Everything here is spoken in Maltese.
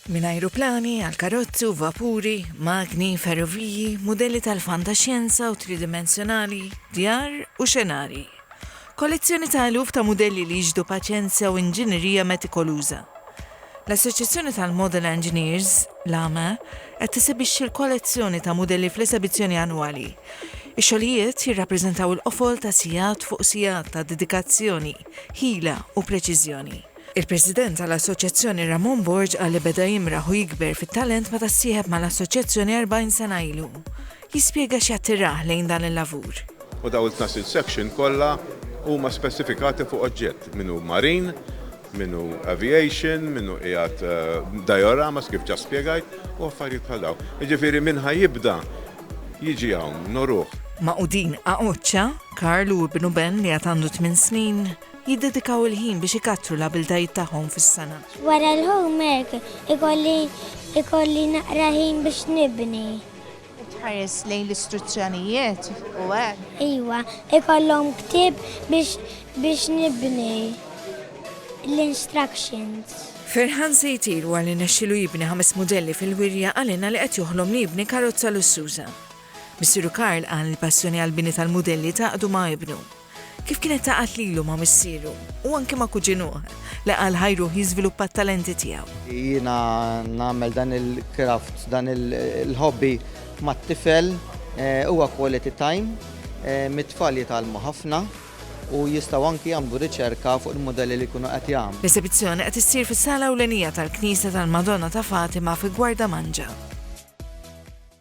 Minn ajruplani għal karozzi u vapuri, magni, ferroviji, mudelli tal-fantaxjenza u tridimensjonali, djar u xenarji. Kollezzjoni ta' eluf ta' mudelli li jixhdu paċenzja u inġinerija metikoluża. L-Assoċjazzjoni tal-Model Engineers, l-AME, qed tesebixxi l-kollezzjoni ta' mudelli fl-esebizzjoni annwali. Ix-xogħlijiet jirrappreżentaw il-qofol ta' sigħat fuq sigħat ta' dedikazzjoni, ħila u preċiżjoni. Il-President tal-Assoċjazzjoni Ramon Borg qal li beda jimraħ u jikber fit-talent meta ssieħeb mal-Assoċjazzjoni 40 sena ilu. Jispjega x'jattirah lejn dan il-lavur. U dawn it-tnax-il section kollha huma spesifikati fuq oġġett, min hu marine, min hu aviation, min hu qiegħed dioramas kif ġa spjegajt u affarijiet bħal dawn. Jiġifieri min ħa jibda jiġi hawn noruh. Magħqudin Aqocca, Karl u ibnu Ben li għad għandu tmien snin. jiddedikaw il-ħin biex ikattru l-abiltajiet tagħhom fis-sengħa. Wara l-homework ikolli ikolli naqra ħin biex nibni. Tħares lejn l-istruzzjonijiet u hekk. Iwa, ikollhom ktieb biex biex nibni l-instructions. Ferħan se jtir wara li nexxielu jibni ħames mudelli fil-wirja qal lilna li qed joħlom li jibni karozza lussuża. Missieru Karl qal li l-passjoni għall-bini tal-mudelli tgħaqqdu ma' ibnu. kif kienet taqgħad lilu ma' missieru u anki ma' kuġinuh li qal ħajruh jiżviluppa t-talenti tiegħu. Jiena nagħmel dan il-craft, dan il-hobby mat-tifel, huwa quality time, mit-tfal jitgħallmu ħafna u jistgħu anki jagħmlu riċerka fuq il-mudelli li jkunu qed jagħmlu. L-esibizzjoni qed issir fis-sala ewlenija tal-Knisja tal-Madonna ta' Fatima fi Gwardamanġa.